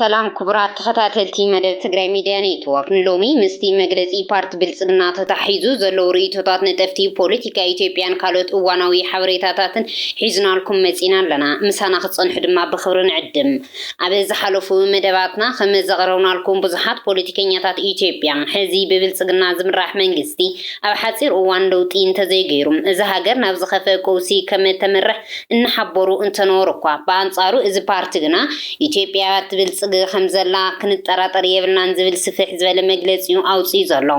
ሰላም ክቡራት ተኸታተልቲ መደብ ትግራይ ሚድያ ኔትወርክ፣ ንሎሚ ምስቲ መግለፂ ፓርቲ ብልፅግና ተታሒዙ ዘለዉ ርእይቶታት ነጠፍቲ ፖለቲካ ኢትዮጵያን ካልኦት እዋናዊ ሓበሬታታትን ሒዝናልኩም መፂና ኣለና። ምሳና ክትፀንሑ ድማ ብኽብሪ ንዕድም። ኣብ ዝሓለፉ መደባትና ከም ዘቕረብናልኩም ብዙሓት ፖለቲከኛታት ኢትዮጵያ ሕዚ ብብልፅግና ዝምራሕ መንግስቲ ኣብ ሓፂር እዋን ለውጢ እንተዘይገይሩ እዛ ሃገር ናብ ዝኸፍኣ ቀውሲ ከም እተምርሕ እናሓበሩ እንተነበሩ እኳ ብኣንፃሩ እዚ ፓርቲ ግና ኢትዮጵያ ትብልፅግ ከም ዘላ ክንጠራጠር የብልናን ዝብል ስፍሕ ዝበለ መግለፂ እዩ ኣውፂኡ ዘሎ።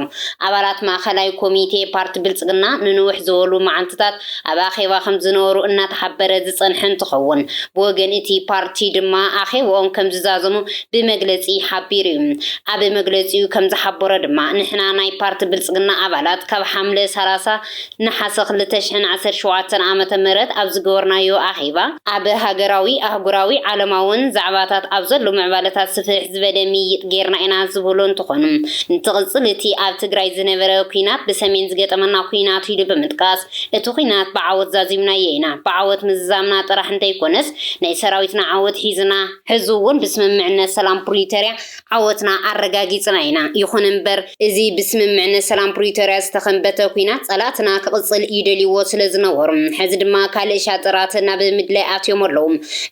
ኣባላት ማእኸላይ ኮሚቴ ፓርቲ ብልፅግና ንንውሕ ዝበሉ መዓልትታት ኣብ ኣኼባ ከምዝነበሩ እናተሓበረ ዝፀንሐ እንትኸውን፣ ብወገን እቲ ፓርቲ ድማ ኣኼብኦም ከምዝዛዘሙ ብመግለፂ ሓቢሩ ዩ። ኣብ መግለፂኡ ከምዝሓበሮ ድማ፣ ንሕና ናይ ፓርቲ ብልፅግና ኣባላት ካብ ሓምለ ሰላሳ ነሓሰ ክልተ ሽሕን ዓሰርተ ሸውዓተን ዓመተ ምህረት ኣብ ዝገበርናዮ ኣኼባ፣ ኣብ ሃገራዊ፣ ኣህጉራዊ፣ ዓለማውን ዛዕባታት ኣብ ዘሎ ምዕባለታት ስፍሕ ዝበለ ምይይጥ ገይርና ኢና ዝበሉ እንትኾኑ፣ እንትቕፅል እቲ ኣብ ትግራይ ዝነበረ ኲናት ብሰሜን ዝገጠመና ኲናት ኢሉ ብምጥቃስ፣ እቲ ኲናት ብዓወት ዛዚምናዮ ኢና፣ ብዓወት ምዝዛምና ጥራሕ እንተይኮነስ ናይ ሰራዊትና ዓወት ሒዝና፣ ሕዚ እውን ብስምምዕነት ሰላም ፕሪቶርያ ዓወትና ኣረጋጊፅና ኢና፣ ይኹን እምበር እዚ ብስምምዕነት ሰላም ፕሪቶርያ ዝተኸምበተ ኩናት ፀላእትና ክቕፅል ይደልይዎ ስለዝነበሩ ሕዚ ድማ ካልእ ሻጥራት ናብ ምድላይ ኣትዮም ኣለዉ።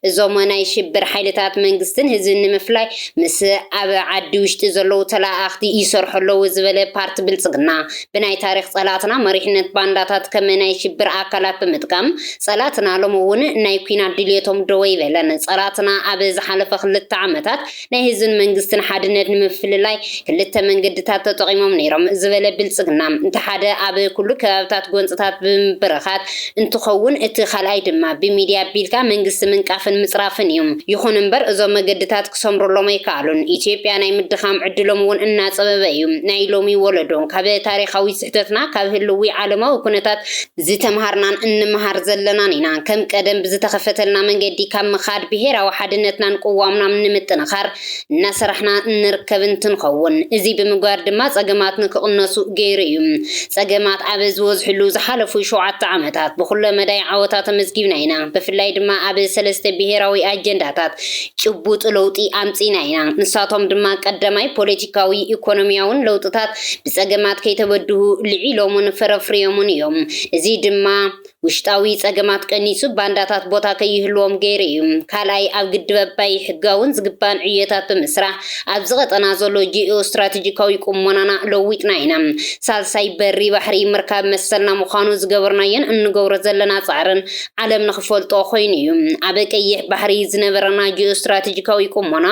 እዞም ናይ ሽብር ሓይልታት መንግስትን ህዝብን ንምፍላይ ምስ ኣብ ዓዲ ውሽጢ ዘለዉ ተለኣኣኽቲ ይሰርሑ ኣለዉ ዝበለ ፓርቲ ብልፅግና ብናይ ታሪኽ ፀላእትና መሪሕነት ባንዳታት ከም ናይ ሽብር ኣካላት ብምጥቃም ፀላእትና ሎሚ እውን ናይ ኩናት ድልየቶም ደወ ኣይበለን። ፀላእትና ኣብ ዝሓለፈ ክልተ ዓመታት ናይ ህዝብን መንግስትን ሓድነት ንምፍልላይ ክልተ መንገድታት ተጠቒሞም ነይሮም ዝበለ ብልፅግና፣ እቲ ሓደ ኣብ ኩሉ ከባብታት ጎንፅታት ብምብርኻት እንትኸውን እቲ ካልኣይ ድማ ብሚድያ ኣቢልካ መንግስቲ ምንቃፍን ምፅራፍን እዩ። ይኹን እምበር እዞም መገድታት ክሰምሩሎም ኣይከኣሉን። ኢትዮጵያ ናይ ምድኻም ዕድሎም እውን እናፀበበ እዩ። ናይ ሎሚ ወለዶ ካብ ታሪኻዊ ስሕተትና፣ ካብ ህልዊ ዓለማዊ ኩነታት፣ ዝተምሃርናን እንምሃር ዘለናን ኢና። ከም ቀደም ብዝተኸፈተልና መንገዲ ካብ ምኻድ ብሄራዊ ሓድነትናን ቅዋምናም ንምጥንኻር እናሰራሕና እንርከብ እንትንኸውን እዙይ ብምግባር ድማ ፀገማት ንክቕነሱ ገይሩ እዩ። ፀገማት ኣብ ዝወዝሕሉ ዝሓለፉ ሸውዓተ ዓመታት ብኹለ መዳይ ዓወታት ኣመዝጊብና ኢና። ብፍላይ ድማ ኣብ ሰለስተ ብሄራዊ ኣጀንዳታት ጭቡጥ ለውጢ ኣምፂእና ኢና። ንሳቶም ድማ ቀዳማይ ፖለቲካዊ ኢኮኖሚያውን ለውጥታት ብጸገማት ከይተበድሁ ልዒሎሙን ፈረፍርዮሙን እዮም። እዚ ድማ ውሽጣዊ ጸገማት ቀኒሱ ባንዳታት ቦታ ከይህልዎም ገይሩ እዩ። ካልኣይ ኣብ ግድብ ኣባይ ሕጋውን ዝግባእን ዕዮታት ብምስራሕ ኣብዚ ቀጠና ዘሎ ጂኦስትራተጂካዊ ቁሞናና ለዊጥና ኢና። ሳልሳይ በሪ ባሕሪ ምርካብ መሰልና ምዃኑ ዝገበርናዮን እንገብሮ ዘለና ጻዕርን ዓለም ንኽፈልጦ ኮይኑ እዩ። ኣብ ቀይሕ ባሕሪ ዝነበረና ጂኦስትራተጂካዊ ቁሞና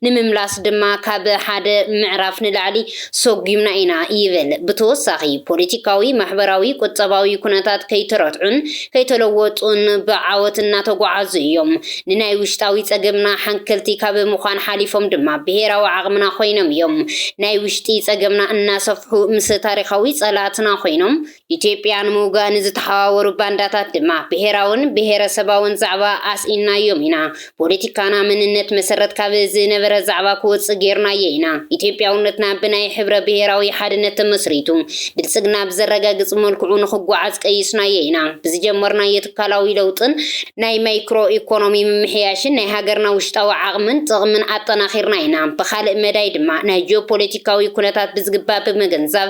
ንምምላስ ድማ ካብ ሓደ ምዕራፍ ንላዕሊ ሰጒምና ኢና ይብል። ብተወሳኺ ፖለቲካዊ፣ ማሕበራዊ፣ ቁጠባዊ ኩነታት ከይተረትዑን ከይተለወጡን ብዓወት እናተጓዓዙ እዮም። ንናይ ውሽጣዊ ፀገምና ሓንከልቲ ካብ ምዃን ሓሊፎም ድማ ብሄራዊ ዓቕምና ኮይኖም እዮም። ናይ ውሽጢ ፀገምና እናሰፍሑ ምስ ታሪኻዊ ፀላእትና ኮይኖም ኢትዮጵያ ንምውጋእ ንዝተሓዋወሩ ባንዳታት ድማ ብሄራውን ብሄረሰባውን ዛዕባ ኣስኢንናዮም ኢና። ፖለቲካና መንነት መሰረት ካብ ዝነበረ ዛዕባ ክወፅእ ገይርናዮ ኢና። ኢትዮጵያውነትና ብናይ ሕብረ ብሄራዊ ሓድነት ተመስሪቱ ብልፅግና ብዘረጋግፅ መልክዑ ንኽጓዓዝ ቀይስናዮ ኢና። ብዝጀመርናዮ ትካላዊ ለውጥን ናይ ማይክሮ ኢኮኖሚ ምምሕያሽን ናይ ሃገርና ውሽጣዊ ዓቕምን ጥቕምን ኣጠናኺርና ኢና። ብኻልእ መዳይ ድማ ናይ ጂኦፖለቲካዊ ኩነታት ብዝግባእ ብምግንዛብ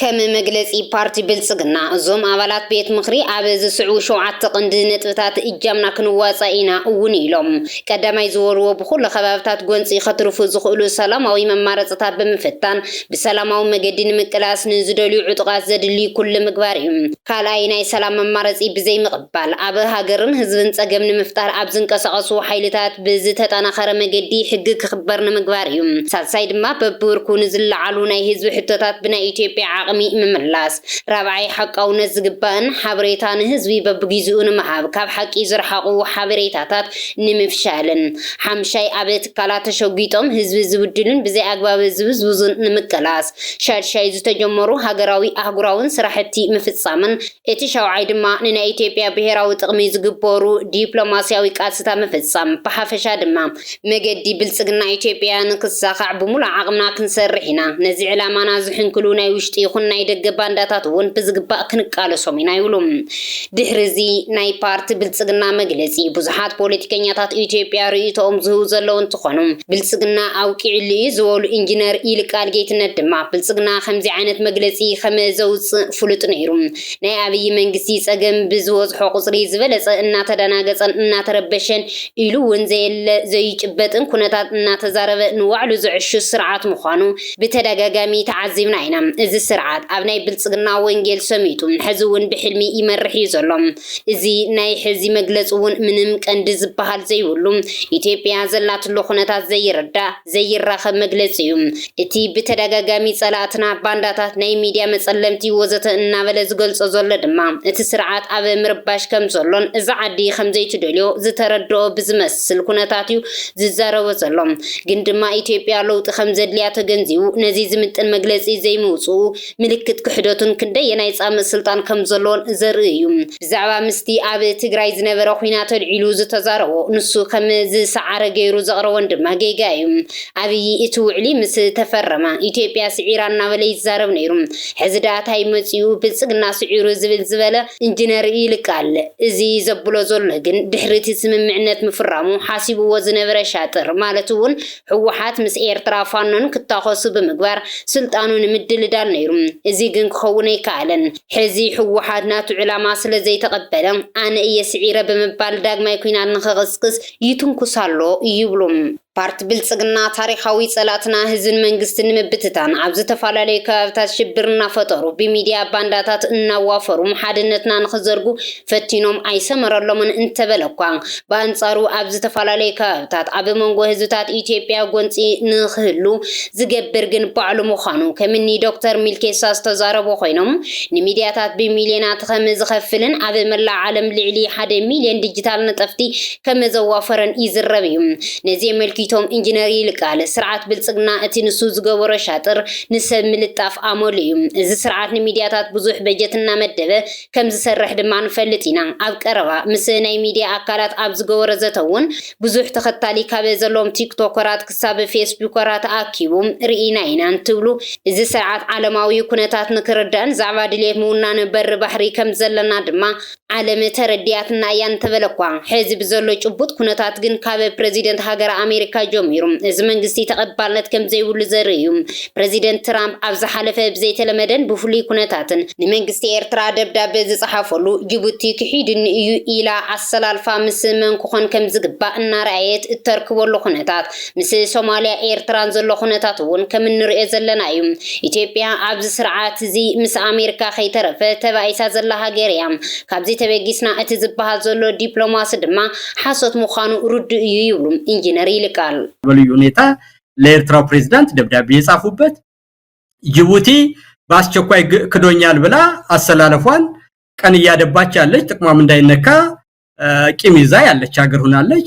ከም መግለጺ ፓርቲ ብልጽግና እዞም ኣባላት ቤት ምኽሪ ኣብ ዝስዕቡ ሸውዓተ ቀንዲ ነጥብታት እጃምና ክንዋፃእ ኢና እውን ኢሎም። ቀዳማይ ዝበልዎ ብኹሉ ከባብታት ጎንፂ ከትርፉ ዝኽእሉ ሰላማዊ መማረፅታት ብምፍታን ብሰላማዊ መገዲ ንምቅላስ ንዝደልዩ ዕጡቓት ዘድሊ ኩሉ ምግባር እዩ። ካልኣይ ናይ ሰላም መማረፂ ብዘይምቕባል ኣብ ሃገርን ህዝብን ፀገም ንምፍጣር ኣብ ዝንቀሳቐሱ ሓይልታት ብዝተጠናኸረ መገዲ ሕጊ ክኽበር ንምግባር እዩ። ሳልሳይ ድማ በቢብርኩ ንዝለዓሉ ናይ ህዝቢ ሕቶታት ብናይ ኢትዮጵያ ዓቕሚ ምምላስ። ራብዓይ ሓቃውነት ዝግባእን ሓበሬታ ንህዝቢ በቢጊዝኡ ንምሃብ ካብ ሓቂ ዝረሓቑ ሓበሬታታት ንምፍሻልን። ሓምሻይ ኣብ ትካላት ተሸጒጦም ህዝቢ ዝብድሉን ብዘይኣግባብ ዝብዝብዙን ንምቅላስ። ሻድሻይ ዝተጀመሩ ሃገራዊ ኣህጉራውን ስራሕቲ ምፍፃምን እቲ ሻውዓይ ድማ ንናይ ኢትዮጵያ ብሄራዊ ጥቕሚ ዝግበሩ ዲፕሎማሲያዊ ቃልስታ ምፍፃም ብሓፈሻ ድማ መገዲ ብልፅግና ኢትዮጵያ ንክሳኻዕ ብሙሉእ ዓቕምና ክንሰርሕ ኢና ነዚ ዕላማና ዝሕንክሉ ናይ ውሽጢ ይኹን ናይ ደገ ባንዳታት እውን ብዝግባእ ክንቃለሶም ኢና ይብሉ። ድሕሪ እዚ ናይ ፓርቲ ብልፅግና መግለፂ ብዙሓት ፖለቲከኛታት ኢትዮጵያ ርእይቶኦም ዝህቡ ዘለዉ እንትኾኑ ብልፅግና ኣብቂዑሉ እዩ ዝበሉ ኢንጂነር ይልቃል ጌትነት ድማ ብልፅግና ከምዚ ዓይነት መግለፂ ከመዘውፅእ ፍሉጥ ነይሩ ናይ ኣብይ መንግስቲ ፀገም ብዝበዝሖ ቁፅሪ ዝበለፀ እናተደናገፀን እናተረበሸን ኢሉ እውን ዘየለ ዘይጭበጥን ኩነታት እናተዛረበ ንባዕሉ ዘዕሹ ስርዓት ምዃኑ ብተደጋጋሚ ተዓዚብና ኢና እዚ ስርዓት ኣብ ናይ ብልጽግና ወንጌል ሰሚጡ ሕዚ ውን ብሕልሚ ይመርሕ እዩ ዘሎ እዚ ናይ ሕዚ መግለጺ ውን ምንም ቀንዲ ዝብሃል ዘይብሉ ኢትዮጵያ ዘላትሉ ኩነታት ዘይርዳእ ዘይራኸብ መግለጺ እዩ እቲ ብተደጋጋሚ ጸላእትና ባንዳታት ናይ ሚድያ መጸለምቲ ወዘተ እናበለ ዝገልጾ ዘሎ ድማ እቲ ስርዓት ኣብ ምርባሽ ከም ዘሎን እዛ ዓዲ ከም ዘይትደልዮ ዝተረድኦ ብዝመስል ኩነታት እዩ ዝዛረቦ ዘሎ ግን ድማ ኢትዮጵያ ለውጢ ከምዘድልያ ተገንዚቡ ነዚ ዝምጥን መግለጺ ዘይምውጽኡ ምልክት ክሕደቱን ክንደየናይ ጻምእ ስልጣን ከምዘለዎን ዘርኢ እዩ። ብዛዕባ ምስቲ ኣብ ትግራይ ዝነበረ ኹናት ኣልዒሉ ዝተዛረቦ ንሱ ከም ዝሰዓረ ገይሩ ዘቕረቦን ድማ ጌጋ እዩ። ኣብዪ እቲ ውዕሊ ምስ ተፈረመ ኢትዮጵያ ስዒራ እናበለ ይዛረብ ነይሩ። ሕዚ ድኣ ታይ መፂኡ ብልፅግና ስዒሩ ዝብል ዝበለ እንጅነር ይልቃል እዚ ዘብሎ ዘሎ ግን ድሕሪ እቲ ስምምዕነት ምፍራሙ ሓሲብዎ ዝነበረ ሻጥር ማለት እውን ህወሓት ምስ ኤርትራ ፋኖን ክታኾሱ ብምግባር ስልጣኑ ንምድልዳል ነይሩ እዚ ግን ክኸውን ኣይከኣለን ሕዚ ህወሓት ናቱ ዕላማ ስለዘይተቐበለ ኣነ እየ ስዒረ ብምባል ዳግማይ ኲናት ንክቕስቅስ ይትንኩስ ኣሎ ይብሉ። ፓርቲ ብልፅግና ታሪኻዊ ፀላእትና ህዝብን መንግስትን ንምብትታን ኣብ ዝተፈላለዩ ከባቢታት ሽብር እናፈጠሩ ብሚድያ ባንዳታት እናዋፈሩ ሓድነትና ንክዘርጉ ፈቲኖም ኣይሰመረሎምን እንተበለ እኳ ብኣንፃሩ ኣብ ዝተፈላለዩ ከባቢታት ኣብ መንጎ ህዝብታት ኢትዮጵያ ጎንፂ ንክህሉ ዝገብር ግን ባዕሉ ምዃኑ ከምኒ ዶክተር ሚልኬሳ ዝተዛረቡ ኮይኖም ንሚድያታት ብሚልዮናት ከምዝኸፍልን ኣብ መላእ ዓለም ልዕሊ ሓደ ሚልዮን ዲጂታል ነጠፍቲ ከመዘዋፈረን ይዝረብ እዩ። ነዚ የመልኪቶም ኢንጅነር ይልቃል፣ ስርዓት ብልጽግና እቲ ንሱ ዝገበሮ ሻጥር ንሰብ ምልጣፍ ኣመሉ እዩ። እዚ ስርዓት ንሚድያታት ብዙሕ በጀት እናመደበ ከምዝሰርሕ ድማ ንፈልጥ ኢና። ኣብ ቀረባ ምስ ናይ ሚድያ ኣካላት ኣብ ዝገበሮ ዘተ'ውን ብዙሕ ተኸታሊ ካብ ዘለዎም ቲክቶከራት ክሳብ ፌስቡከራት ኣኪቡ ርኢና ኢና እንትብሉ እዚ ስርዓት ዓለማዊ ኩነታት ንክርዳእን ዛዕባ ድልየት ምውናን በሪ ባሕሪ ከምዘለና ድማ ዓለም ተረዲኣትና እያ እንተበለ'ኳ፣ ሕዚ ብዘሎ ጭቡጥ ኩነታት ግን ካብ ፕረዚደንት ሃገረ ኣሜሪካ ጀሚሩ እዚ መንግስቲ ተቐባልነት ከምዘይብሉ ዘርኢ እዩ። ፕረዚደንት ትራምፕ ኣብ ዝሓለፈ ብዘይተለመደን ብፍሉይ ኩነታትን፣ ንመንግስቲ ኤርትራ ደብዳበ ዝጸሓፈሉ፣ ጅቡቲ ክሒዱኒ እዩ ኢላ ኣሰላልፋ ምስ መን ክኾን ከምዝግባእ እናረኣየት እተርክበሉ ኩነታት፣ ምስ ሶማልያ ኤርትራን ዘሎ ኩነታት እውን ከም እንርእዮ ዘለና እዩ። ኢትዮጵያ ኣብዚ ስርዓት እዚ ምስ ኣሜርካ ከይተረፈ ተባኢሳ ዘላ ሃገር እያ። ካብዚ ተበጊስና እቲ ዝበሃል ዘሎ ዲፕሎማሲ ድማ ሓሶት ምዃኑ ርዱእ እዩ ይብሉ ኢንጂነር ይልቃል። በልዩ ሁኔታ ለኤርትራው ፕሬዝዳንት ደብዳቤ የጻፉበት። ጅቡቲ በአስቸኳይ ግ- ክዶኛል ብላ አሰላለፏን ቀን እያደባች ያለች ጥቅሟም እንዳይነካ እ፣ ቂም ይዛ ያለች ሀገር ሁናለች።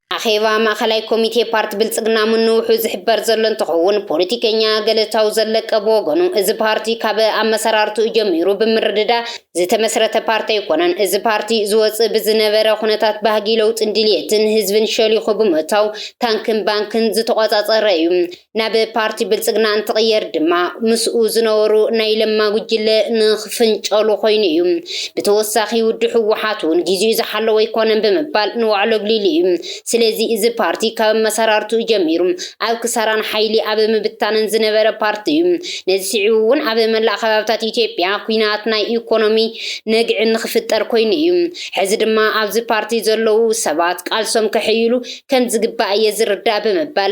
ኣኼባ ማእኸላይ ኮሚቴ ፓርቲ ብልፅግና ምንውሑ ዝሕበር ዘሎ እንትኸውን ፖለቲከኛ ገለታው ዘለቀ ብወገኑ እዚ ፓርቲ ካብ ኣመሰራርትኡ ጀሚሩ ብምርድዳእ ዝተመስረተ ፓርቲ ኣይኮነን። እዚ ፓርቲ ዝወፅእ ብዝነበረ ኩነታት ባህጊ ለውጥን ድልየትን ህዝብን ሸሊኹ ብምእታው ታንክን ባንክን ዝተቖፃፀረ እዩ። ናብ ፓርቲ ብልፅግና እንትቕየር ድማ ምስኡ ዝነበሩ ናይ ለማ ጉጅለ ንክፍንጨሉ ኮይኑ እዩ። ብተወሳኺ ውድ ህወሓት እውን ጊዜኡ ዝሓለወ ኣይኮነን ብምባል ንባዕሉ ኣግሊሉ እዩ። ስለዚ እዚ ፓርቲ ካብ ኣመሰራርትኡ ጀሚሩ ኣብ ክሳራን ሓይሊ ኣብ ምብታንን ዝነበረ ፓርቲ እዩ። ነዚ ስዒቡ እውን ኣብ መላእ ከባብታት ኢትዮጵያ ኩናት ናይ ኢኮኖሚ ነግዒ ንክፍጠር ኮይኑ እዩ። ሕዚ ድማ ኣብዚ ፓርቲ ዘለዉ ሰባት ቃልሶም ከሕይሉ ከምዝግባእ እየ ዝርዳእ ብምባል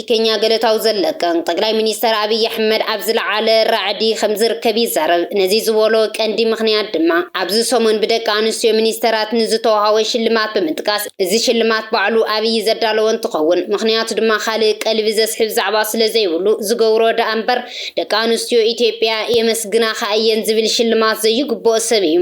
ኬንያ ገለታዊ ዘለቀን ጠቅላይ ሚኒስተር ኣብይ ኣሕመድ ኣብ ዝለዓለ ራዕዲ ከምዝርከብ ይዛረብ። ነዚ ዝበሎ ቀንዲ ምኽንያት ድማ ኣብዚ ሰሙን ብደቂ ኣንስትዮ ሚኒስተራት ንዝተወሃቦ ሽልማት ብምጥቃስ እዚ ሽልማት ባዕሉ ኣብይ ዘዳለዎ እንትኸውን ምኽንያቱ ድማ ካልእ ቀልቢ ዘስሕብ ዛዕባ ስለዘይብሉ ዝገብሮ ደኣምበር ደቂ ኣንስትዮ ኢትዮጵያ የመስግናኻ እየን ዝብል ሽልማት ዘይግብኦ ሰብ እዩ።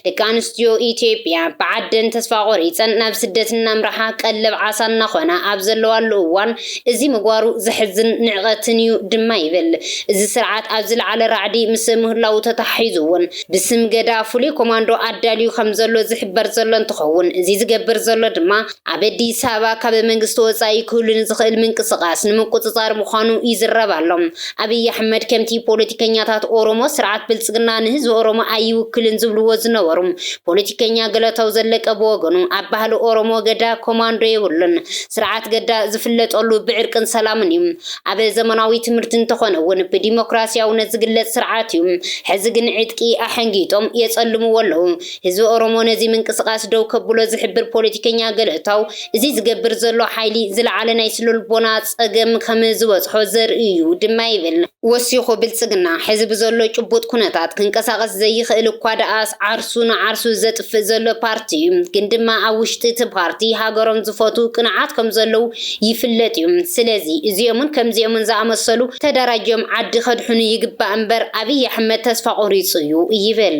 ደቂ ኣንስትዮ ኢትዮጵያ ብዓደን ተስፋ ቆሪፀን ናብ ስደት እናምርሓ ቀለብ ዓሳ እናኾና ኣብ ዘለዋሉ እዋን እዚ ምግባሩ ዘሕዝን ንዕቀትን እዩ ድማ ይብል እዚ ስርዓት ኣብ ዝለዓለ ራዕዲ ምስ ምህላዉ ተተሓሒዙ እውን ብስም ገዳ ፍሉይ ኮማንዶ ኣዳልዩ ከምዘሎ ዝሕበር ዘሎ እንትኸውን እዚ ዝገብር ዘሎ ድማ ኣብ ኣዲስ ኣበባ ካብ መንግስቲ ወፃኢ ክህሉ ንዝኽእል ምንቅስቓስ ንምቁፅፃር ምዃኑ ይዝረብ ኣሎ። ኣብይ ኣሕመድ ከምቲ ፖለቲከኛታት ኦሮሞ ስርዓት ብልፅግና ንህዝቢ ኦሮሞ ኣይውክልን ዝብልዎ ዝነበሩ ፖለቲከኛ ገለታው ዘለቀ ብወገኑ ኣብ ባህሊ ኦሮሞ ገዳ ኮማንዶ የብሉን። ስርዓት ገዳ ዝፍለጠሉ ብዕርቅን ሰላምን እዩ። ኣብ ዘመናዊ ትምህርቲ እንተኾነ እውን ብዲሞክራሲያውነት ዝግለፅ ስርዓት እዩ። ሕዚ ግን ዕጥቂ ኣሐንጊጦም የፀልምዎ ኣለው። ህዝቢ ኦሮሞ ነዚ ምንቅስቃስ ደው ከብሎ ዝሕብር ፖለቲከኛ ገለታው፣ እዚ ዝገብር ዘሎ ሓይሊ ዝለዓለ ናይ ስነልቦና ጸገም ከም ዝበጽሖ ዘርኢ እዩ ድማ ይብል። ወሲኹ ብልጽግና ሕዚ ብዘሎ ጭቡጥ ኩነታት ክንቀሳቐስ ዘይኽእል እኳ ደኣስ ዓርሱ ንዓርሱ ዘጥፍእ ዘሎ ፓርቲ እዩ፣ ግን ድማ ኣብ ውሽጢ እቲ ፓርቲ ሃገሮም ዝፈትው ቅኑዓት ከም ዘለው ይፍለጥ እዩ። ስለዚ እዚኦምን ከምዚኦምን ዝኣመሰሉ ተደራጅዮም ዓዲ ከድሕኑ ይግባእ እምበር ኣብይ ኣሕመድ ተስፋ ቆሪጹ እዩ ይብል።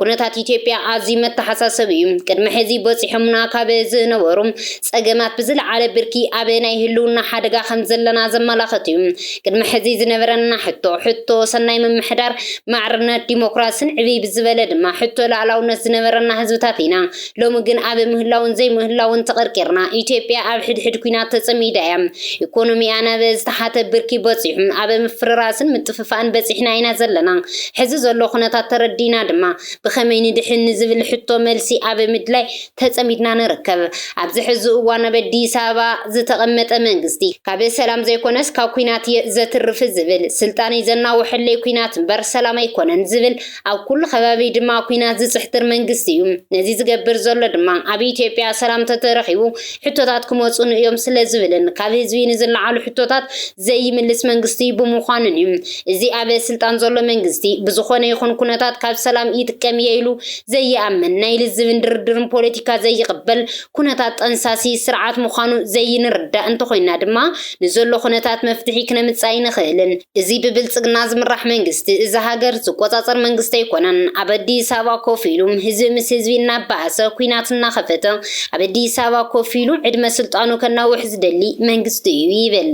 ኩነታት ኢትዮጵያ ኣዝዩ መተሓሳሰቢ እዩ። ቅድሚ ሕዚ በፂሖምና ካብ ዝነበሩ ፀገማት ብዝለዓለ ብርኪ ኣብ ናይ ህልውና ሓደጋ ከም ዘለና ዘመላኸት እዩ። ቅድሚ ሕዚ ዝነበረና ሕቶ ሕቶ ሰናይ ምምሕዳር፣ ማዕርነት፣ ዲሞክራሲን ዕብይ ብዝበለ ድማ ሕቶ ላእላውነት ዝነበረና ህዝብታት ኢና። ሎሚ ግን ኣብ ምህላውን ዘይምህላውን ተቐርቂርና። ኢትዮጵያ ኣብ ሕድሕድ ኲናት ተጸሚዳ እያ። ኢኮኖሚኣ ናብ ዝተሓተ ብርኪ በጺሑ። ኣብ ምፍርራስን ምጥፍፋእን በጺሕና ኢና ዘለና። ሕዚ ዘሎ ኩነታት ተረዲእና ድማ ብኸመይ ንድሕን ንዝብል ሕቶ መልሲ ኣብ ምድላይ ተጸሚድና ንርከብ። ኣብዚ ሕዚ እዋን ኣብ ኣዲስ ኣበባ ዝተቐመጠ መንግስቲ፣ ካብ ሰላም ዘይኮነስ ካብ ኲናት እየ ዘትርፍ ዝብል፣ ስልጣነይ ዘናውሐለይ ኲናት እምበር ሰላም ኣይኮነን ዝብል ኣብ ኩሉ ከባቢ ድማ ኩናት ዝጽሕትር መንግስቲ እዩ ነዚ ዝገብር ዘሎ ድማ ኣብ ኢትዮጵያ ሰላም ተተረኺቡ ሕቶታት ክመጹኑ እዮም ስለ ዝብልን ካብ ህዝቢ ንዝለዓሉ ሕቶታት ዘይምልስ መንግስቲ ብምዃኑን እዩ እዚ ኣብ ስልጣን ዘሎ መንግስቲ ብዝኾነ ይኹን ኩነታት ካብ ሰላም ይጥቀም እየ ኢሉ ዘይኣምን ናይ ልዝብን ድርድርን ፖለቲካ ዘይቕበል ኩነታት ጠንሳሲ ስርዓት ምዃኑ ዘይንርዳእ እንተኾይንና ድማ ንዘሎ ኩነታት መፍትሒ ክነምጽእ ኣይንኽእልን። እዚ ብብልጽግና ዝምራሕ መንግስቲ እዛ ሃገር ዝቆጻጸር መንግስቲ ኣይኮነን። ኣብ ኣዲስ ኣበባ ኮፍ ኢሉ ህዝቢ ምስ ህዝቢ እናባኣሰ ኩናት እናኸፈተ ኣብ ኣዲስ ኣበባ ኮፍ ኢሉ ዕድመ ስልጣኑ ከናውሕ ዝደሊ መንግስቲ እዩ ይብል።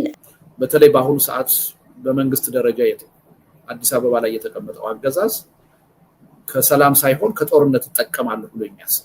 በተለይ በአሁኑ ሰዓት በመንግስት ደረጃ አዲስ አበባ ላይ የተቀመጠው አገዛዝ ከሰላም ሳይሆን ከጦርነት እጠቀማለሁ ብሎ የሚያስብ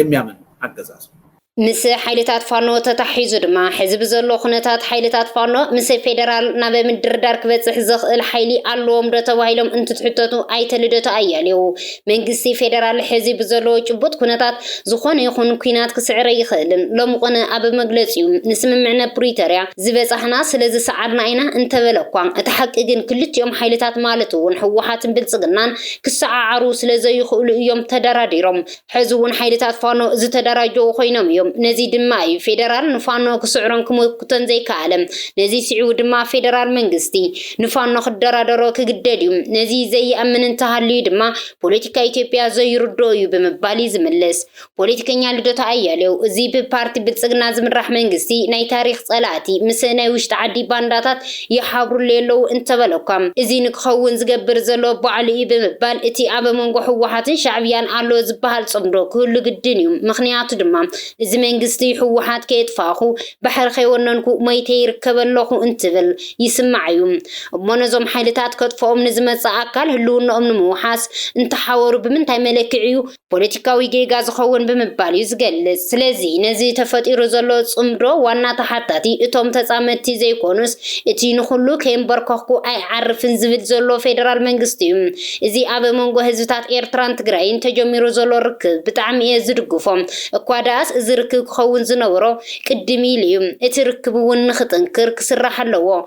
የሚያምን ኣገዛዝ እዩ። ምስ ሓይልታት ፋኖ ተታሒዙ ድማ ሕዚ ብዘሎ ኩነታት ሓይልታት ፋኖ ምስ ፌደራል ናብ ምድርዳር ክበፅሕ ዘኽእል ሓይሊ ኣለዎም ዶ ተባሂሎም እንትትሕተቱ ኣይተ ልደቱ ኣያሌው መንግስቲ ፌደራል ሕዚ ብዘለዎ ጭቡጥ ኩነታት ዝኾነ ይኹን ኩናት ክስዕር ኣይኽእልን ሎሚ ቁነ ኣብ መግለፂኡ ንስምምዕነ ፕሪቶሪያ ዝበፃሕና ስለዝሰዓርና ኢና እንተበለ እኳ እቲ ሓቂ ግን ክልቲኦም ሓይልታት ማለት እውን ህወሓትን ብልፅግናን ክሰዓዓሩ ስለ ዘይኽእሉ እዮም ተደራዲሮም። ሕዚ እውን ሓይልታት ፋኖ ዝተደራጀዉ ኮይኖም እዮም። ነዚ ድማ እዩ ፌደራል ንፋኖ ክስዕሮን ክምኩቶን ዘይከኣለ። ነዚ ስዒቡ ድማ ፌደራል መንግስቲ ንፋኖ ክደራደሮ ክግደድ እዩ። ነዚ ዘይኣምን እንተሃልዩ ድማ ፖለቲካ ኢትዮጵያ ዘይርድኦ እዩ ብምባል ይዝምልስ። ፖለቲከኛ ልደቱ ኣያሌው፣ እዚ ብፓርቲ ብልጽግና ዝምራሕ መንግስቲ ናይ ታሪኽ ጸላእቲ ምስ ናይ ውሽጢ ዓዲ ባንዳታት ይሓብሩለይ ኣለዉ እንተበለ'ኳ፣ እዚ ንክኸውን ዝገብር ዘሎ ባዕሉ'ዩ ብምባል እቲ ኣብ መንጎ ህወሓትን ሻዕብያን ኣሎ ዝበሃል ጽምዶ ክህሉ ግድን'ዩ። ምኽንያቱ ድማ እዚ መንግስቲ ህወሓት ከየጥፋእኩ፣ ባሕሪ ከይወነንኩ ሞይተ ይርከብ ኣለኹ እንትብል ይስማዕ'ዩ። እሞ ነዞም ሓይልታት ከጥፍኦም ንዝመጽእ ኣካል ህልውንኦም ንምውሓስ እንተሓወሩ ብምንታይ መለክዒ'ዩ? ፖለቲካዊ ጌጋ ዝኸውን ብምባል እዩ ዝገልጽ። ስለዚ ነዚ ተፈጢሩ ዘሎ ጽምዶ ዋና ተሓታቲ እቶም ተጻመድቲ ዘይኮኑስ እቲ ንኹሉ ከየንበርከኽኩ ኣይዓርፍን ዝብል ዘሎ ፌደራል መንግስቲ እዩ። እዚ ኣብ መንጎ ህዝብታት ኤርትራን ትግራይን ተጀሚሩ ዘሎ ርክብ ብጣዕሚ እየ ዝድግፎ። እኳ ደኣስ እዚ ርክብ ክኸውን ዝነበሮ ቅድም ኢሉ እዩ። እቲ ርክብ'ውን ንኽጥንክር ክስራሕ ኣለዎ።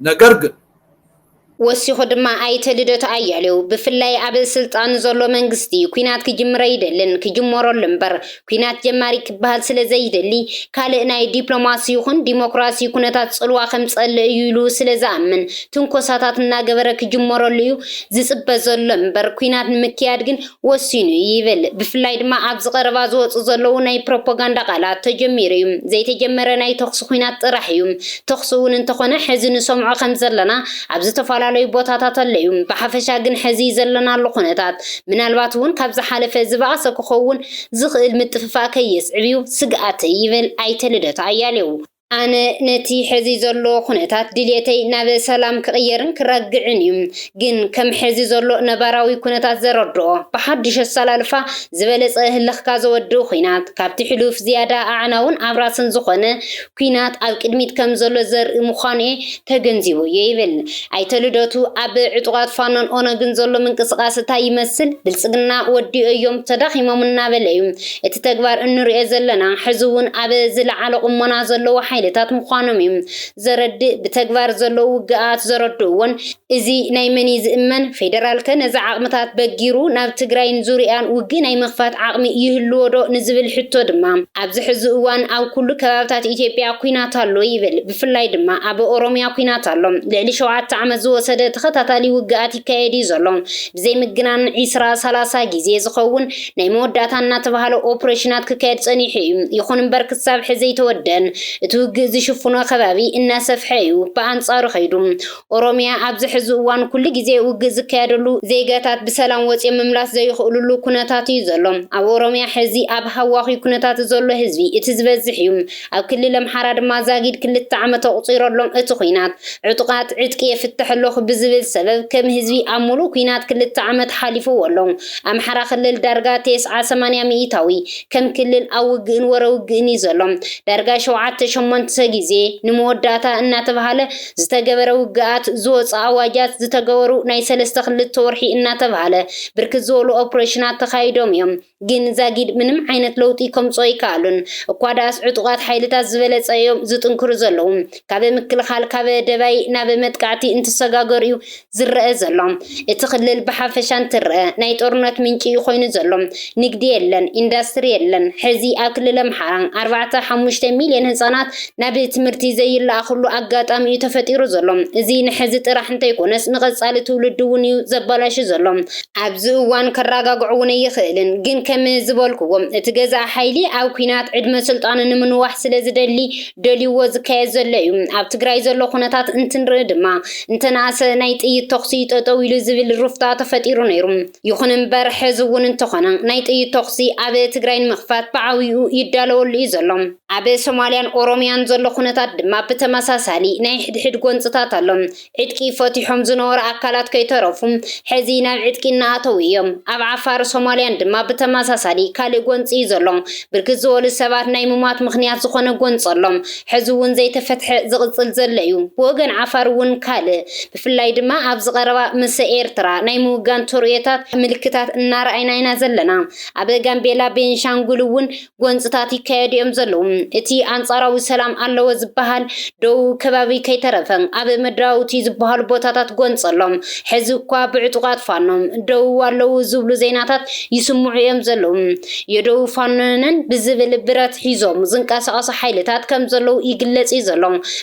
ነገር ግን። ወሲኹ ድማ ኣይተ ልደቱ ኣያሌው፣ ብፍላይ ኣብ ስልጣን ዘሎ መንግስቲ ኲናት ክጅምር ኣይደልን፣ ክጅመረሉ እምበር ኲናት ጀማሪ ክበሃል ስለዘይደሊ ካልእ ናይ ዲፕሎማሲ ይኹን ዲሞክራሲ ኩነታት ፅልዋ ከምፀልእ እዩ ኢሉ ስለዝኣምን ትንኮሳታት እናገበረ ክጅመረሉ እዩ ዝፅበ ዘሎ እምበር ኲናት ንምክያድ ግን ወሲኑ እዩ ይብል። ብፍላይ ድማ ኣብዚ ቀረባ ዝወጹ ዘለዉ ናይ ፕሮፖጋንዳ ቃላት፣ ተጀሚሩ እዩ፣ ዘይተጀመረ ናይ ተኹሲ ኹናት ጥራሕ እዩ፣ ተኹሲ እውን እንተኾነ ሕዚ ንሰምዖ ከምዘለና ኣብ ዝተፈላለዩ ቦታታት ኣሎ እዩ፣ ብሓፈሻ ግን ሕዚ ዘለናሉ ኩነታት ምናልባት እውን ካብ ዝሓለፈ ዝበኣሰ ክኸውን ዝኽእል ምጥፍፋእ ከየስዕብ እዩ ስግኣተይ ይብል ኣይተ ልደቱ ኣያሌው። ኣነ ነቲ ሐዚ ዘሎ ኩነታት ድልየተይ ናብ ሰላም ክቕየርን ክረግዕን እዩ። ግን ከም ሐዚ ዘሎ ነባራዊ ኩነታት ዘረድኦ፣ ብሓዱሽ ኣሰላልፋ ዝበለፀ ህልኽካ ዘወድእ ኹናት፣ ካብቲ ሕሉፍ ዝያዳ ኣዕናውን ኣብራስን ዝኾነ ኲናት ኣብ ቅድሚት ከም ዘሎ ዘርኢ ምዃኑ'የ ተገንዚበዮ ይብል ኣይተ ልደቱ። ኣብ ዕጡቓት ፋኖን ኦነግን ዘሎ ምንቅስቓስ ታይ ይመስል? ብልፅግና ወዲኦዮም ተዳኺሞም እናበለ'ዩ እቲ ተግባር እንርእዮ ዘለና ሕዚ እውን ኣብ ዝለዓለ ቁሞና ዘለዉ ሓይልታት ምዃኖም እዩ ዘረድእ ብተግባር ዘለዉ ውግኣት ዘረድእዎን እዚ ናይ መን እዩ ዝእመን ፌደራልከ ነዚ ዓቕምታት በጊሩ ናብ ትግራይን ዙርይኣን ውግእ ናይ ምኽፋት ዓቕሚ ይህልዎ ዶ ንዝብል ሕቶ ድማ ኣብዚ ሕዚ እዋን ኣብ ኩሉ ከባብታት ኢትዮጵያ ኲናት ኣሎ ይብል ብፍላይ ድማ ኣብ ኦሮምያ ኲናት ኣሎ ልዕሊ ሸውዓተ ዓመት ዝወሰደ ተኸታታሊ ውግኣት ይካየድ እዩ ዘሎ ብዘይምግናን ዒስራ ሰላሳ ግዜ ዝኸውን ናይ መወዳእታ እናተባህለ ኦፕሬሽናት ክካየድ ጸኒሑ እዩ። ይኹን እምበር ክሳብ ሕዚ ኣይተወደን። እቲ ውግእ ዝሽፍኖ ከባቢ እናሰፍሐ እዩ ብኣንጻሩ ከይዱ። ኦሮሚያ ኣብዚ ሕዚ እዋን ኩሉ ግዜ ውግእ ዝካየደሉ፣ ዜጋታት ብሰላም ወጺኦም ምምላስ ዘይኽእሉሉ ኩነታት እዩ ዘሎ። ኣብ ኦሮሚያ ሕዚ ኣብ ሃዋኹ ኩነታት ዘሎ ህዝቢ እቲ ዝበዝሕ እዩ። ኣብ ክልል ኣምሓራ ድማ ዛጊድ ክልተ ዓመት ኣቑጺሩ ኣሎ እቲ ኹናት። ዕጡቓት ዕጥቂ የፍትሕ ኣለኹ ብዝብል ሰበብ ከም ህዝቢ ኣብ ሙሉእ ኩናት ክልተ ዓመት ሓሊፍዎ ኣሎ። ኣምሓራ ክልል ዳርጋ ቴስዓ ሰማንያ ሚኢታዊ ከም ክልል ኣብ ውግእን ወረ ውግእን እዩ ዘሎ። ዳርጋ ሸውዓተ ሸሞንተ ግዜ ንመወዳእታ እናተብሃለ ዝተገበረ ውግኣት፣ ዝወጹ ኣዋጃት፣ ዝተገበሩ ናይ ሰለስተ ክልተ ወርሒ እናተብሃለ ብርክት ዝበሉ ኦፕሬሽናት ተኻይዶም እዮም። ግን ዛጊድ ምንም ዓይነት ለውጢ ከምጹ ኣይከኣሉን። እኳ ድኣስ ዕጡቓት ሓይልታት ዝበለጸ እዮም ዝጥንክሩ ዘለዉ። ካብ ምክልኻል ካብ ደባይ ናብ መጥቃዕቲ እንትሰጋገሩ እዩ ዝረኣ ዘሎ። እቲ ክልል ብሓፈሻ እንትረኣ ናይ ጦርነት ምንጪ እዩ ኮይኑ ዘሎ። ንግዲ የለን፣ ኢንዳስትሪ የለን። ሕዚ ኣብ ክልል ኣምሓራ ኣርባዕተ ሓሙሽተ ሚልዮን ህጻናት ናብ ትምህርቲ ዘይለኣኽሉ ኣጋጣሚ እዩ ተፈጢሩ ዘሎ። እዚ ንሕዚ ጥራሕ እንተይኮነስ ንቐጻሊ ትውልዲ እውን እዩ ዘባላሹ ዘሎ። ኣብዚ እዋን ከራጋግዖ እውን ኣይኽእልን። ግን ከም ዝበልክዎ እቲ ገዛኢ ሓይሊ ኣብ ኲናት ዕድመ ስልጣኑ ንምንዋሕ ስለዝደሊ ደልዩዎ ዝካየድ ዘሎ እዩ። ኣብ ትግራይ ዘሎ ኩነታት እንትንርኢ ድማ እንተነኣሰ ናይ ጥይት ተኹሲ ጠጠው ኢሉ ዝብል ሩፍታ ተፈጢሩ ነይሩ። ይኹን እምበር ሕዚ እውን እንተኾነ ናይ ጥይት ተኹሲ ኣብ ትግራይ ንምኽፋት ብዓብይኡ ይዳለወሉ እዩ ዘሎ። ኣብ ሶማሊያን ኦሮሚያን ዘሎ ኩነታት ድማ ብተመሳሳሊ ናይ ሕድሕድ ጎንፅታት ኣሎ። ዕጥቂ ፈቲሖም ዝነበሩ ኣካላት ከይተረፉ ሕዚ ናብ ዕጥቂ እናኣተዉ እዮም። ኣብ ዓፋር ሶማልያን ድማ ብተመሳሳሊ ካልእ ጎንፂ እዩ ዘሎ። ብርክት ዝበሉ ሰባት ናይ ምሟት ምኽንያት ዝኾነ ጎንፂ ኣሎ። ሕዚ እውን ዘይተፈትሐ ዝቕፅል ዘሎ እዩ። ብወገን ዓፋር እውን ካልእ ብፍላይ ድማ ኣብዚ ቀረባ ምሰ ኤርትራ ናይ ምውጋን ተርእዮታት ምልክታት እናረኣይና ኢና ዘለና። ኣብ ጋምቤላ፣ ቤንሻንጉል እውን ጎንፅታት ይካየዱ እዮም ዘለዉ። እቲ ኣንፃራዊ ሰላም ኣለወ ዝበሃል ደቡብ ከባቢ ከይተረፈ ኣብ መድራውቲ ዝበሃሉ ቦታታት ጎንፂ ኣሎ። ሕዚ እኳ ብዕጡቓት ፋኖ ደቡብ ኣለዉ ዝብሉ ዜናታት ይስምዑ እዮም ዘለዉ። የደቡብ ፋኖ ነን ብዝብል ብረት ሒዞም ዝንቀሳቐሱ ሓይልታት ከም ዘለዉ ይግለፅ እዩ ዘሎ።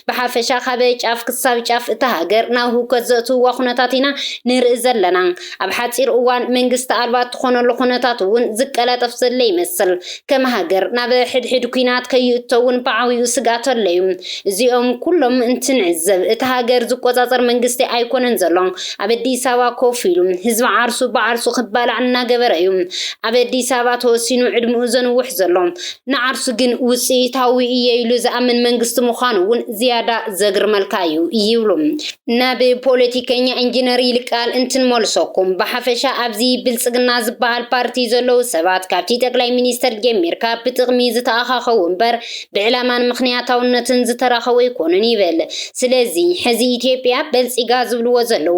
ብሓፈሻ ካብ ጫፍ ክሳብ ጫፍ እታ ሃገር ናብ ህውከት ዘእትውዋ ኩነታት ኢና ንርኢ ዘለና። ኣብ ሓጺር እዋን መንግስቲ ኣልባ እትኾነሉ ኩነታት እውን ዝቀላጠፍ ዘለ ይመስል። ከም ሃገር ናብ ሕድሕድ ኩናት ከይእቶ እውን ብዓብይኡ ስግኣት ኣሎ እዩ። እዚኦም ኩሎም እንትንዕዘብ እታ ሃገር ዝቆጻጸር መንግስቲ ኣይኮነን ዘሎ። ኣብ ኣዲስ ኣበባ ኮፍ ኢሉ ህዝቢ ዓርሱ ብዓርሱ ክባላዕ እናገበረ እዩ ኣብ ኣዲስ ኣበባ ተወሲኑ ዕድምኡ ዘንውሕ ዘሎ። ንዓርሱ ግን ውጽኢታዊ እየ ኢሉ ዝኣምን መንግስቲ ምዃኑ እውን ዝያዳ ዘግርመልካ እዩ ይብሉ። ናብ ፖለቲከኛ ኢንጂነር ይልቃል እንትንመልሰኩም፣ ብሓፈሻ ኣብዚ ብልጽግና ዝበሃል ፓርቲ ዘለዉ ሰባት ካብቲ ጠቅላይ ሚኒስተር ጀሚርካ ብጥቕሚ ዝተኣኻኸቡ እምበር ብዕላማን ምኽንያታውነትን ዝተራኸቡ ኣይኮኑን ይብል። ስለዚ ሕዚ ኢትዮጵያ በልጺጋ ዝብልዎ ዘለዉ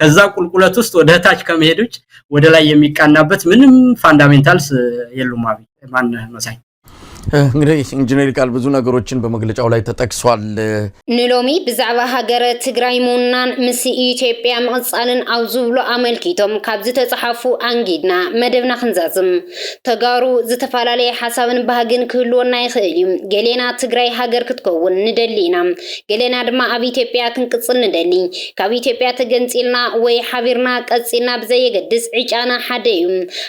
ከዛ ቁልቁለት ውስጥ ወደ ታች ከመሄድ ውጭ ወደ ላይ የሚቃናበት ምንም ፋንዳሜንታልስ የሉም። አብይ ማን መሳይ እንግዲህ ኢንጂነር ቃል ብዙ ነገሮችን በመግለጫው ላይ ተጠቅሷል። ንሎሚ ብዛዕባ ሃገረ ትግራይ ምውናን ምስ ኢትዮጵያ ምቕፃልን ኣብ ዝብሉ ኣመልኪቶም ካብ ዝተፅሓፉ ኣንጊድና መደብና ክንዛዝም ተጋሩ ዝተፈላለየ ሓሳብን ባህግን ክህልወና ይኽእል እዩ። ገሌና ትግራይ ሃገር ክትከውን ንደሊ ኢና። ገሌና ድማ ኣብ ኢትዮጵያ ክንቅጽል ንደሊ። ካብ ኢትዮጵያ ተገንጺልና ወይ ሓቢርና ቀጺልና ብዘየገድስ ዕጫና ሓደ እዩ።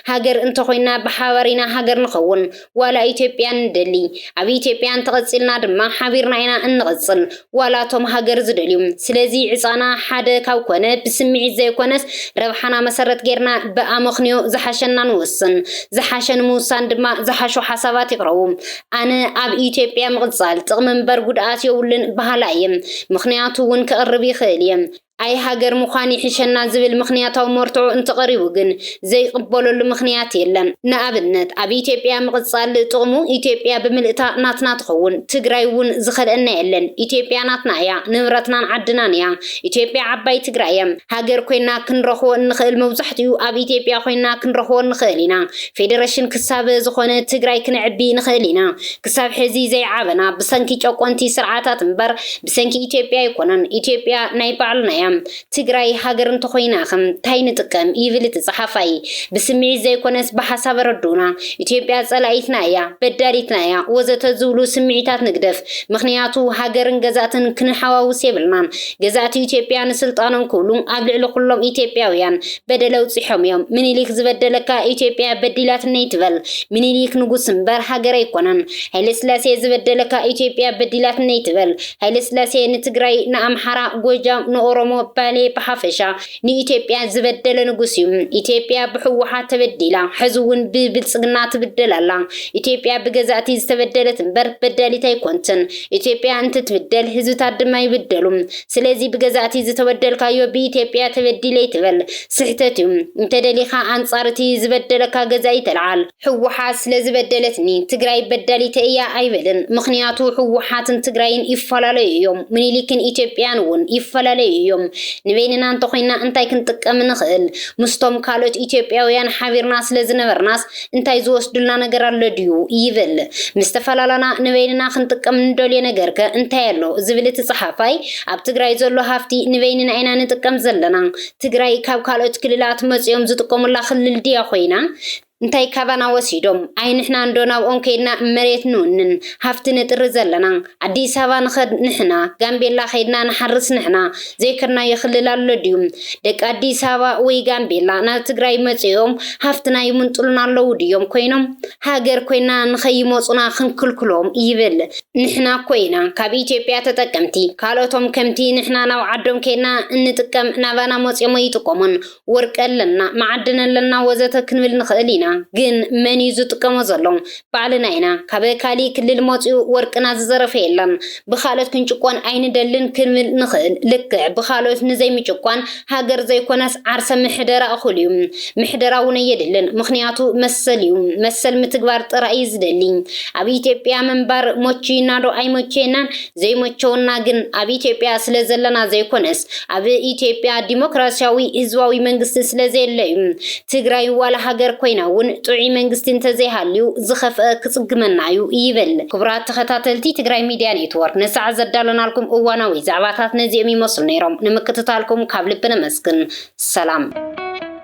ሃገር እንተኾይንና ብሓባር ኢና ሃገር ንኸውን። ዋላ ኢትዮጵያ ንደሊ። ኣብ ኢትዮጵያ እንተቐጺልና ድማ ሓቢርና ኢና እንቕጽል ዋላ እቶም ሃገር ዝደልዩ። ስለዚ ዕጻና ሓደ ካብ ኮነ ብስምዒት ዘይኮነስ ረብሓና መሰረት ጌርና ብኣመኽንዮ ዝሓሸና ንወስን። ዝሓሸ ንምውሳን ድማ ዝሓሹ ሓሳባት ይቕረቡ። ኣነ ኣብ ኢትዮጵያ ምቕጻል ጥቕሚ እምበር ጉድኣት የብሉን በሃላይ እየ። ምኽንያቱ እውን ከቕርብ ይኽእል እየ። ኣይ ሃገር ምዃን ይሕሸና ዝብል ምኽንያታዊ መርትዖ እንተቐሪቡ ግን ዘይቕበለሉ ምኽንያት የለን። ንኣብነት ኣብ ኢትዮጵያ ምቕጻል ጥቕሙ ኢትዮጵያ ብምልእታ ናትና ትኸውን። ትግራይ እውን ዝኸልአና የለን። ኢትዮጵያ ናትና እያ። ንብረትናን ዓድናን እያ። ኢትዮጵያ ዓባይ ትግራይ እያ። ሃገር ኮይና ክንረኽቦ እንኽእል መብዛሕትኡ ኣብ ኢትዮጵያ ኮይና ክንረኽቦ ንኽእል ኢና። ፌደረሽን ክሳብ ዝኾነ ትግራይ ክነዕቢ ንኽእል ኢና። ክሳብ ሕዚ ዘይዓበና ብሰንኪ ጨቆንቲ ስርዓታት እምበር ብሰንኪ ኢትዮጵያ ኣይኮነን። ኢትዮጵያ ናይ ባዕልና እያ። ትግራይ ሃገር እንተኾይናኸ ታይ ንጥቀም ይብል እቲ ፀሓፋይ። ብስምዒት ዘይኮነስ ብሓሳብ ኣረድኡና። ኢትዮጵያ ፀላኢትና እያ፣ በዳሊትና እያ ወዘተ ዝብሉ ስምዒታት ንግደፍ። ምኽንያቱ ሃገርን ገዛእትን ክንሓዋውስ የብልናን። ገዛእቲ ኢትዮጵያ ንስልጣኖም ክብሉ ኣብ ልዕሊ ኩሎም ኢትዮጵያውያን በደል ኣብፂሖም እዮም ምኒሊክ ዝበደለካ ኢትዮጵያ በዲላትኒ ትበል ምኒሊክ ንጉስ እምበር ሃገር ኣይኮነን ሃይለስላሴ ዝበደለካ ኢትዮጵያ በዲላትኒ ትበል ሃይለስላሴ ንትግራይ ንኣምሓራ ጎጃም ንኦሮሞ ባሌ ብሓፈሻ ንኢትዮጵያ ዝበደለ ንጉስ እዩ ኢትዮጵያ ብሕወሓት ተበዲላ ሕዚ እውን ብብልፅግና ትብደል ኣላ ኢትዮጵያ ብገዛእቲ ዝተበደለት እምበር በዳሊት ኣይኮንትን ኢትዮጵያ እንትትብደል ህዝብታት ድማ ይብደሉ ስለዚ ብገዛእቲ ዝተበደልካዮ ብኢትዮጵያ ተበዲለ ኣይትበል ስሕተት እዩ እንተደሊኻ ኣንጻር እቲ ዝበደለካ ገዛኢ ተልዓል። ህወሓት ስለዝበደለትኒ ትግራይ በዳሊተይ እያ ኣይበልን ምኽንያቱ ህወሓትን ትግራይን ይፈላለዩ እዮም ምኒሊክን ኢትዮጵያን እውን ይፈላለዩ እዮም ንበይንና እንተኾይንና እንታይ ክንጥቀም ንኽእል ምስቶም ካልኦት ኢትዮጵያውያን ሓቢርና ስለዝነበርናስ እንታይ ዝወስዱልና ነገር ኣሎ ድዩ? ይብል። ምስ ተፈላላና ንበይንና ክንጥቀም ንደልዮ ነገርከ እንታይ ኣሎ? ዝብል እቲ ጸሓፋይ፣ ኣብ ትግራይ ዘሎ ሃፍቲ ንበይንና ኢና ንጥቀም ዘለና። ትግራይ ካብ ካልኦት ክልላት መጺኦም ዝጥቀሙላ ክልል ድያ ኮይና? እንታይ ካባና ወሲዶም? ኣይንሕናንዶ ናብኦም ከይድና መሬት ንውንን፣ ሃፍቲ ንጥሪ ዘለና? ኣዲስ ኣበባ ንኸድ ንሕና፣ ጋምቤላ ከይድና ንሓርስ ንሕና፣ ዘይከድናዮ ክልል ኣሎ ድዩ? ደቂ ኣዲስ ኣበባ ወይ ጋምቤላ ናብ ትግራይ መፂኦም ሃፍትና ይምንጥሉና ኣለዉ ድዮም ኮይኖም? ሃገር ኮይና ንኸይመፁና ክንክልክሎም? ይብል። ንሕና እኮ ኢና ካብ ኢትዮጵያ ተጠቀምቲ፣ ካልኦቶም ከምቲ ንሕና ናብ ዓዶም ከይድና እንጥቀም ናባና መፂኦም ኣይጥቀሙን። ወርቂ ኣለና፣ መዓድን ኣለና ወዘተ ክንብል ንኽእል ኢና። ግን መን እዩ ዝጥቀሞ ዘሎ? ባዕልና ኢና። ካብ ካሊእ ክልል መፂኡ ወርቅና ዝዘረፈ የለን። ብኻልኦት ክንጭቆን ኣይንደልን ክንብል ንኽእል። ልክዕ ብኻልኦት ንዘይምጭቋን ሃገር ዘይኮነስ ዓርሰ ምሕደራ እኹል እዩ። ምሕደራ እውን ኣየድልን። ምኽንያቱ መሰል እዩ። መሰል ምትግባር ጥራይ እዩ ዝደሊ። ኣብ ኢትዮጵያ ምንባር ሞችዩና ዶ ኣይሞቸየናን? ዘይመቸወና ግን ኣብ ኢትዮጵያ ስለ ዘለና ዘይኮነስ ኣብ ኢትዮጵያ ዲሞክራሲያዊ ህዝባዊ መንግስቲ ስለ ዘየለ እዩ። ትግራይ ዋላ ሃገር ኮይና እውን ጥዑይ መንግስቲ እንተዘይሃልዩ ዝኸፍአ ክፅግመና እዩ ይብል። ክቡራት ተኸታተልቲ ትግራይ ሚድያ ኔትወርክ ንሰዓት ዘዳለናልኩም እዋናዊ ዛዕባታት ነዚኦም ይመስሉ ነይሮም። ንምክትታልኩም ካብ ልቢ ነመስግን። ሰላም።